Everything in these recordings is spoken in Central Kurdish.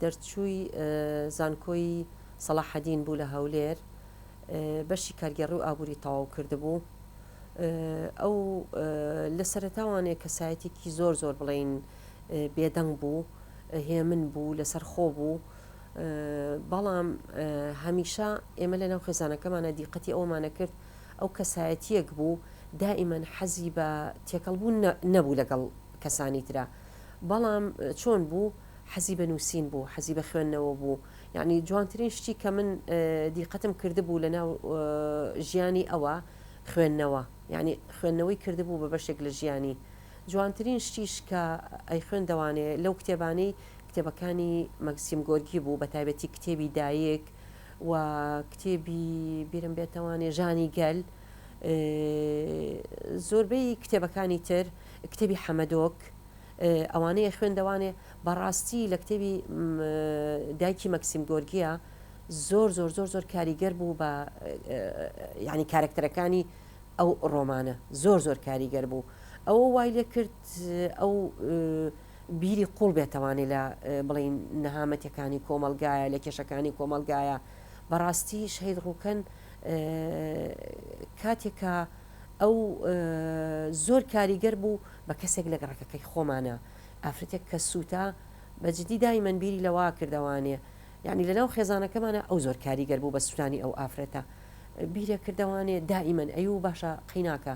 دەرچووی زانکۆی سەڵاحەدین بوو لە هەولێر بەشی کارگێڕی و ئابووری تەواو کردبوو ئەو لە سەرتاوانێ کەسایەتێکی زۆر زۆر بڵین بێدەنگ بوو هێمن بوو لەسەر خۆ بوو بەڵام هەمیشە ئێمە لە ناو خێزانەکەمانە دیقەتی ئەومانە کرد ئەو کەسایەتیەک بوو دائیمەن حەزی بە تێکەڵبوون نەبوو لەگەڵ کەسانی تررا بەڵام چۆن بوو حەزی بە نووسین بوو حەزی بە خوێندنەوە بوو یعنی جوانترین شتی کە من دیقەتم کردبوو لە ناو ژیانی ئەوە خوێندنەوە یعنی خوێندنەوەی کردبوو بە بەشێک لە ژیانی جوانترین شتیش کە ئەی خوێندەوانێ لەو کتێبانەی کتێبەکانی مەکسیم گۆرگی بوو بە تایبەتی کتێبی دایک و کتێبی بیرم بێتەوانێ ژانی گەل زۆربەی کتێبەکانی تر کتێبی حەمەدۆک ئەوانەی ئەخوێندەوانێ بەڕاستی لە کتێبی دایکی مەکسیم گۆرگیا زۆر زۆر زۆر زۆر کاریگەر بوو بە ینی کارکتەرەکانی ئەو ڕۆمانە زۆر زۆر کاریگەر بوو ئەوە وای لێ کرد ئەو بیری قوڵ بێتوانێت لە بڵین نەهامەتەکانی کۆمەلگایە لە کێشەکانی کۆمەلگایە بەڕاستی شەید ڕووکەن کاتێکە ئەو زۆر کاریگەر بوو بە کەسێک لە گەڕەکەکەی خۆمانا ئافرەتێک کە سوتا بە جدی دایمەن بیری لەوە کردەوانێ یانی لە ناو خێزانەکەمانا ئەو زۆر کاریگەر بوو بە سوتانی ئەو ئافرەتە بیرە کردەوانێ دائیمەن ئەی و باشە قەیناکە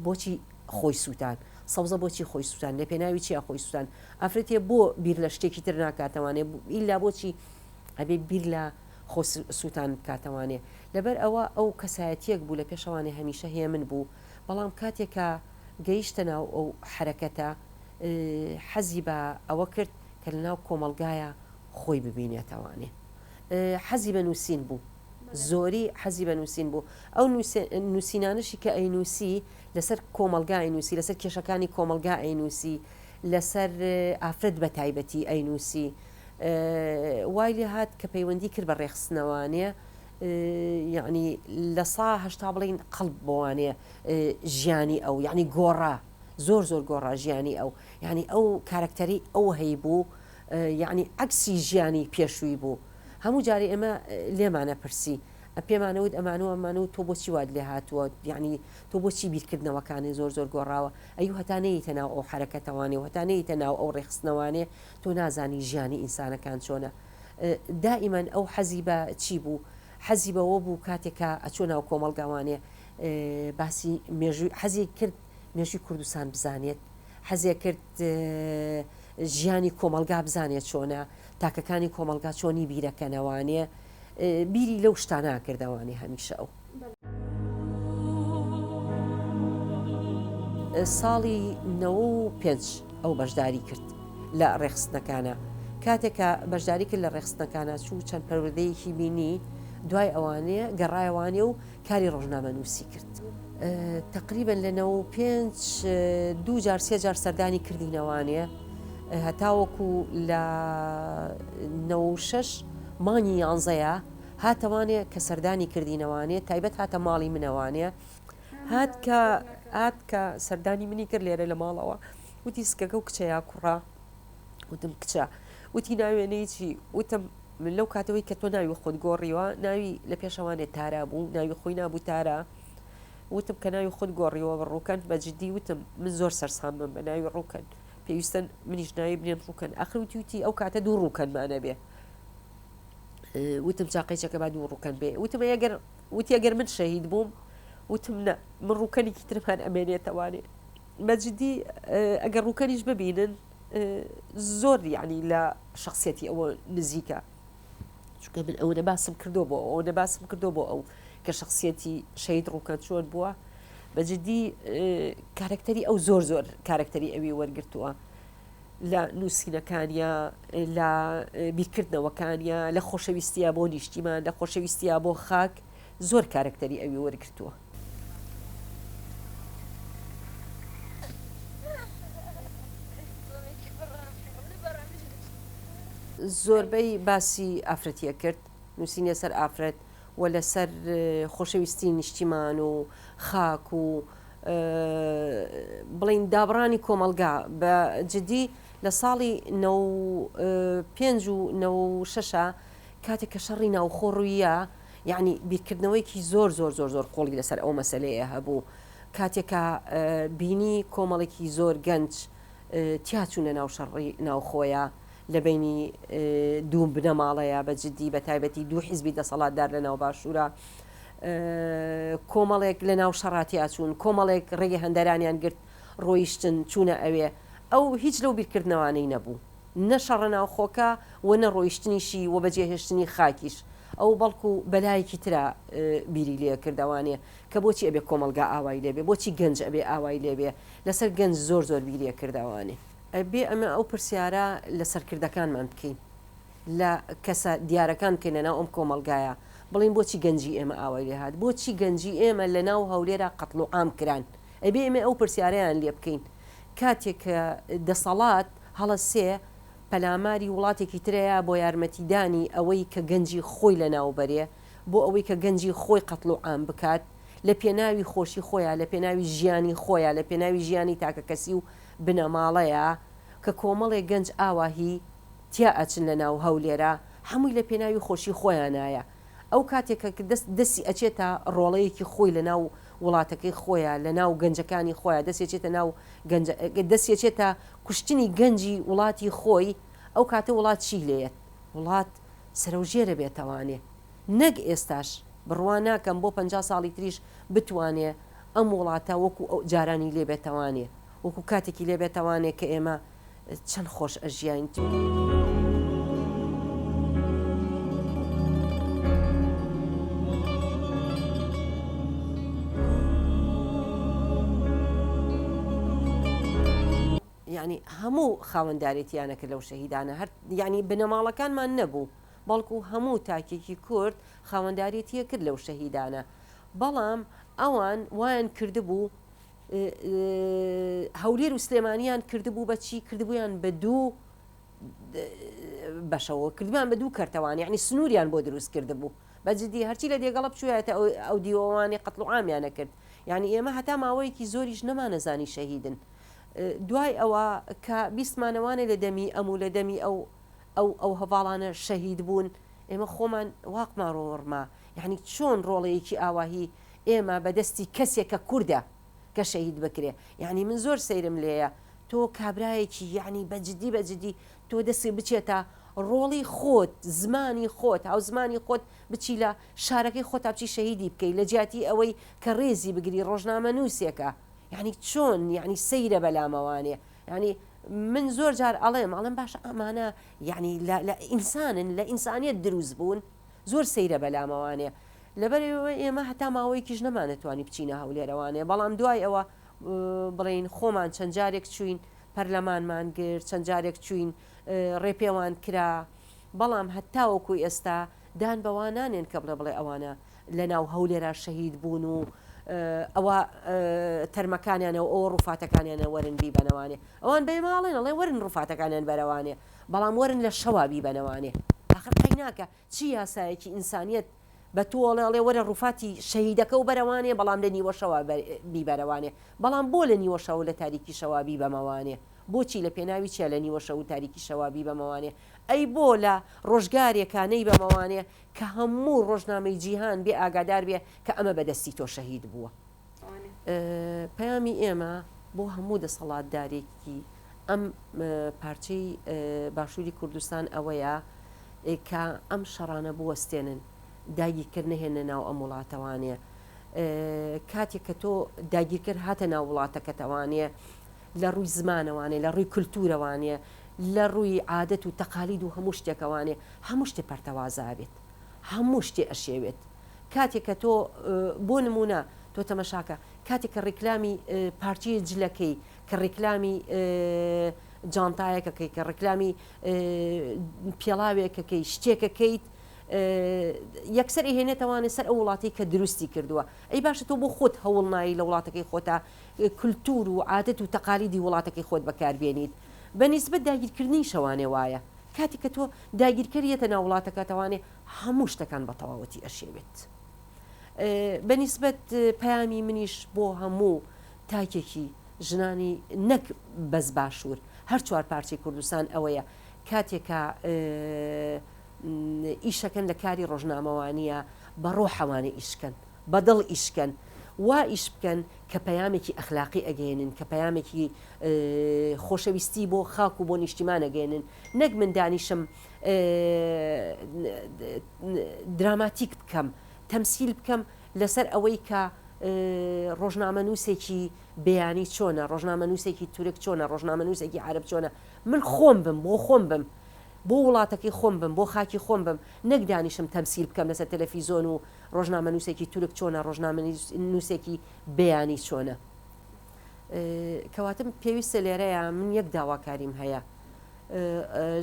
بۆچی خۆی سووتان سەوزە بۆچی خۆی سووتان لە پێناوی چیا خۆی سووتان ئافرەتێ بۆ بیر لە شتێکی تر ناکاتەوانێ ئیلا بۆچی ئەبێ بیر لە خۆ سووتان بکاتەوانێ لەبەر ئەوە ئەو کەسایەتیەک بوو لە پێشەوانێ هەمیشە هێمن بوو بەڵام کاتێ کە گەیشتە ناو ئەو حەرەکەتە حەزی بە ئەوە کرد کە لە ناو کۆمەڵگایا خۆی ببینێتەوانێ حەزی بە نووسین بوو زۆری حەزی بە نووسین بوو ئەو نووسینانشی کە ئەی نووسی لەسەر کۆمەلگا ئەی نووسی لەسەر کێشەکانی کۆمەلگا ئەی نووسی لەسەر ئافرەت بە تایبەتی ئەی نووسی وای لێ هات کە پەیوەندی کرد بە ڕێخستنەوانێ یەعنی لە سا هەشتا بڵین قەڵب بۆوانێ ژیانی ئەو یعنی گۆڕا زۆر زۆر گۆڕا ژیانی ئەو یعنی ئەو کارکتەری ئەو هەی بوو یعنی عکسی ژیانی پێشووی بوو هەموو جارێ ئێمە لێمانە پرسی پێمانەوت ئەمانەوە ئەمان و تۆ بۆچی واد لێ هاتووە یعنی تۆ بۆچی بیرکردنەوەکانی زۆر زۆر گۆڕاوە ئەی هەتا نەیتە ناو ئەو حرەکەتەوانێ و هەتا نەیتە ناو ئەو ڕێخستنەوانێ تۆ نازانی ژیانی ئینسانەکان چۆنە دائیمەن ئەو حەزی بە چی بوو حەزی بەوە بوو کاتێک کە ئەچۆ ناو کۆمەڵگاوانێ باسی مێژووی حەزی کرد مێژوی کوردستان بزانێت حەزێ کرد ژیانی کۆمەلگا بزانێت چۆنە تاکەکانی کۆمەلگا چۆنی بیرەکەنەوانێ بیری لەو شتانە کردوانێ هەمیشە ئەو. ساڵی نەوە و پێنج ئەو بەشداری کرد لە ڕێخستنەکانە کاتێکە بەشداری کرد لە ڕێخستنەکانە چوو چەند پەرودەیەکی بینی دوای ئەوانەیە گەڕایوانێ و کاری ڕۆژنامەنووسی کرد. تەقریبەن لە نەوە و پێنج دوو جار سێ جار سەردانی کردی نەوانێ هەتاوەکو لە نەوە و شەش مانگی یانزەیە هاتەوانێ کە سەردانی کردی نەوانێ تایبەت هاتە ماڵی منەوانێ هات کە هات کە سەردانی منی کرد لێرە لە ماڵەوە وتی سکەکە و کچەیە کوڕە وتم، کچە. وتی، ناوێنەی چی؟ وتم، من لەو کاتەوەی کە تۆ ناوی خۆت گۆڕیوە، ناوی لە پێشەوانێ تارا بوو، ناوی خۆی نابوو تارا. وتم، کە ناوی خۆت گۆڕیوە بە ڕووکەن، بە جدی وتم، من زۆر سەرسامم بە ناوی ڕووکەن. پێویستە منیش ناوی بنێم ڕووکەن. ئاخر وتی وتی، ئەو کاتە دوو ڕووکەنمان ئەبێ. وتم، چاقەی چەکە با دوو ڕووکەن بێ. وتم، ئەی ئەگەر، وتی، ئەگەر من شەهید بووم؟ وتم، نە، من ڕووکەنێکی ترمان ئەمێنێتەوانێ. بە جدی ئەگەر ڕووکەنیش ببینن زۆر یعنی لە شخصیەتی ئەوە نزیکە چونکە من ئەوەنە باسم کردو بۆ ئەوەنە باسم کردو بۆ ئەو کە شخصیەتی شەید ڕووکە چۆن بووە بە جدی کارکتەری ئەو زۆر زۆر کارکتەری ئەوی وەرگتووە لە نووسینەکانیا لە بیرکردنەوەکانیا لە خۆشەویستە بۆ نیشتیمان لە خۆشەویستە بۆ خاک زۆر کارەکتەری ئەوی وەرگرتووە. زۆربەی باسی ئافرەتیە کرد نوسینیە سەر ئافرەت و لەسەر خۆشەویستی نیشتیمان و خاک و بڵین دابڕانی کۆمەڵگا بە جدی لە ساڵی نە پێنج و نە شەشە کاتێک کە شەڕی ناوخۆڕویە یەعنی بیرکردنەوەیەکی زۆر زۆر زۆر زۆر قوڵی لەسەر ئەو مەسەلەیە هەبوو، کاتێک کە بینی کۆمەڵێکی زۆر گەنج تیاچوونە ناو شەڕڕی ناوخۆیە لە بینی دوو بنەماڵەیە بە جددی بە تایبەتی دوو حیزبی دەسەڵاتدار لە ناو باشوورە کۆمەڵێک لە ناو شەڕاتیاچوون کۆمەڵێک ڕێگە هەندەرانیان گرت ڕۆیشتن چوونە ئەوێ ئەو هیچ لەو بیرکردنەوانەی نەبوو. نە شەڕە ناوخۆکە و نە ڕۆیشتنیشی و بە جێهێشتنی خاکیش ئەو بەڵکو بەلایەکی ترا بیری لێ کرد ئەوانێ کە بۆچی ئەبێ کۆمەڵگا ئاوای لێ بێ بۆچی گەنج ئەبێ ئاوای لێ بێ لەسەر گەنج زۆر زۆر بیری ئەکرد ئەوانێ ئەبێ ئەمە ئەو پرسیارە لە سەرکردەکانمان بکەین لە کەسە دیارەکان بکەین لە ناو ئەم کۆمەڵگایە بڵێین بۆچی گەنجی ئێمە ئاوای لێ هات بۆچی گەنجی ئێمە لە ناو هەولێرا قەتڵوعام کران ئەبێ ئێمە ئەو پرسیارەیان لێ بکەین کاتێ کە دەسەڵات هەڵە سێ پەلاماری وڵاتێکی ترەیا بۆ یارمەتیدانی ئەوەی کە گەنجی خۆی لە ناو بەرێ، بۆ ئەوەی کە گەنجی خۆی قەتڵ و عام بکات، لە پێناوی خۆشی خۆیا، لە پێناوی ژیانی خۆیا، لە پێناوی ژیانی تاکە کەسی و بنەماڵەیا، کە کۆمەڵێ گەنج ئاوا هی تیا ئەچن لە ناو هەولێرا، هەمووی لە پێناوی خۆشی خۆیانایە. ئەو کاتێک کە دەست دەسی ئەچێتە ڕۆڵەیەکی خۆی لە ناو وڵاتەکەی خۆیا لە ناو گەنجەکانی خۆیا دەستی ئەچێتە ناو گەنجە دەستی ئەچێتە کوشتنی گەنجی وڵاتی خۆی ئەو کاتە وڵات چی لێیەت وڵات سەرەو ژێرە بێتەوانێ نەک ئێستاش بڕوا ناکەم بۆ پەنجا ساڵی تریش بتوانێ ئەم وڵاتە وەکو جارانی لێ بێتەوانێ وەکو کاتێکی لێ بێتەوانێ کە ئێمە چەند خۆش ئەژیاین. یانی هەموو خاوەندارێتیانەکە لەو شەهیدانە هەر ینی بنەماڵەکانمان نەبوو بەڵکو هەموو تاکێکی کورد خاوەندارێتیە کرد لەو شەهیدانە بەڵام ئەوان وایان کردبوو هەولێر و سلێمانیان کردبوو بە چی کردبوویان بە دوو بەشەوە کردمان بە دوو کەرتەوان یعنی سنووریان بۆ دروست کرد بوو بەجددی هەرچی لە دێگەڵە بچوایەتە ئەو دیوەوانی قەتڵوعامیانە کرد یعنی ئێمە هەتا ماوەیەکی زۆریش نەمانەزانی شەهیدن دوای ئەوە کە بیستمانەوانێ لە دەمی ئەم و لە دەمی ئەو ئەو ئەو هەواڵانە شەهید بوون ئێمە خۆمان واقمان ڕۆڕما یعنی چۆن ڕۆڵەیەکی ئاواهی ئێمە بە دەستی کەسێ کە کوردە کە شەهید بکرێ یانی من زۆر سەیرم لێیە تۆ کابرایەکی یانی بە جدی بە جدی تۆ دەسی بچێتە ڕۆڵی خۆت زمانی خۆت هاوزمانی خۆت بچی لە شارەکەی خۆتا بچی شەهیدی بکەی لە جیاتی ئەوەی کە ڕێزی بگری ڕۆژنامە نووسێکە یانی چۆن یانی سەیرە بەلامەوانێ یانی من زۆر جار ئەڵێم ئەڵێم باشە ئەمانە یانی لە لە ئینسانن لە ئینسانیت دروست بوون؟ زۆر سەیرە بەلام ئەوانێ لەبەر ئێمە هەتا ماوەیەکیش نەمانەتوانی بچینە هەولێر ئەوانێ بەڵام دوای ئەوە بڵین خۆمان چەند جارێک چوین پەرلەمانمان گرت چەند جارێک چوین ڕێپێوان کرا بەڵام هەتا وەکو ئێستا دان بەوا نانێن کە بڵێ بڵێ ئەوانە لە ناو هەولێرا شەهید بوون و ئەوە تەرمەکانیانەوە ئەو ڕوفاتەکانیانە وەرن بیبەنەوانێ ئەوان بەێماڵێن ئەڵێ وەرن ڕوفاتەکانیان بەرەوانێ بەڵام وەرن لە شەوا بیبەنەوانێ ئاخر قەیناکە چ یاسایەکی ئینسانیەت بە تۆ ئەڵێ ئەڵێ وەرە ڕوفاتی شەهیدەکە و بەرەوانێ بەڵام لە نیوە شەوا بیبەرەوانێ بەڵام بۆ لە نیوە شەو لە تاریکی شەوا بیبەمەوانێ بۆچی لە پێناوی چیا لە نیوە شەو تاریکی شەوا بیبەمەوانێ ئەی بۆ لە ڕۆژگارێکا نەیبەمەوانێ کە هەموو ڕۆژنامەی جیهان بێ ئاگادار بێ کە ئەمە بە دەستی تۆ شەهید بووە پەیامی ئێمە بۆ هەموو دەسەڵاتدارێکی ئەم پارچەی باشووری کوردستان ئەوەیە کە ئەم شەڕانە بوەستێنن داگیرکرد نەهێنە ناو ئەم وڵاتەوانێ کاتێک کە تۆ داگیرکرد هاتە ناو وڵاتەکەتەوانێ لە ڕووی زمانەوانێ لە ڕووی کللتورەوانێ لە ڕووی عادەت و تەقالید و هەموو شتێکەوانێ هەموو شتێ پەرتەوازابێت هەموو شتێ ئەشێوێت کاتێ کە تۆ بۆ نمونە تۆ تەمەشاکە کاتێک کە ڕیکلامی پارچی جلەکەی کە ڕیکلامی جانتایەکەکەی کە ڕیکلامی پێڵاوێکەکەی شتێکەکەیت یەکسەر هێنێتەوانێ سەر ئەو وڵاتی کە دروستی کردووە ئەی باشە تۆ بۆ خۆت هەوڵ نایی لە وڵاتەکەی خۆتا کللتور و عادەت و تەقالیدی وڵاتەکەی خۆت بەکاربیێنیت بە نیسبەت داگیرکردنی شەوانێ وایە کاتێک کە تۆ داگیرکەر یەتە ناو وڵاتەکەت ئەوانێ هەموو شتەکان بە تەواوەتی ئەشێوێت بە نیسبەت پەیامی منیش بۆ هەموو تاکێکی ژنانی نەک بەس باشوور هەر چوار پارچەی کوردستان ئەوەیە کاتێکە ئیشەکەن لە کاری ڕۆژنامەوانیە بە ڕۆحەوانە ئیشکەن بە دڵ ئیش کەن وا ئیش بکەن کە پەیامێکی ئەخلاقی ئەگەیەنن کە پەیامێکی خۆشەویستی بۆ خاک و بۆ نیشتیمان ئەگەیەنن نەک من دانیشم دراماتیک بکەم تەمسیل بکەم لەسەر ئەوەی کە ڕۆژنامەنووسێکی بیانی چۆنە ڕۆژنامەنووسێکی تورک چۆنە ڕۆژنامەنووسێکی عرب چۆنە من خۆم بم بۆ خۆم بم بۆ وڵاتەکەی خۆم بم بۆ خاکی خۆم بم نەک دانیشم تەمسیل بکەم لەسەر تەلەفیزۆن و ڕۆژنامەنووسێکی تورک چۆنە ڕۆژنامەنووسێکی بیانی چۆنە کەواتم پێویستە لێرەیە من یەک داواکاریم هەیە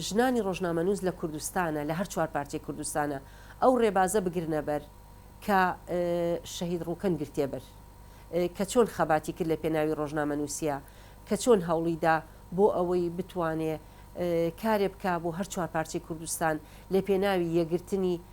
ژنانی ڕۆژنامەنووس لە کوردستانە لە هەر چوار پارچەی کوردستانە ئەو ڕێبازە بگرنەبەر کە شەهید ڕووکەن گرتێبەر کە چۆن خەباتی کرد لە پێناوی ڕۆژنامە نووسە کە چۆن هەوڵیدا بۆ ئەوەی بتوانێ کارێ بک بۆ هەر چوار پارچەی کوردستان لە پێناوی یەگرتنی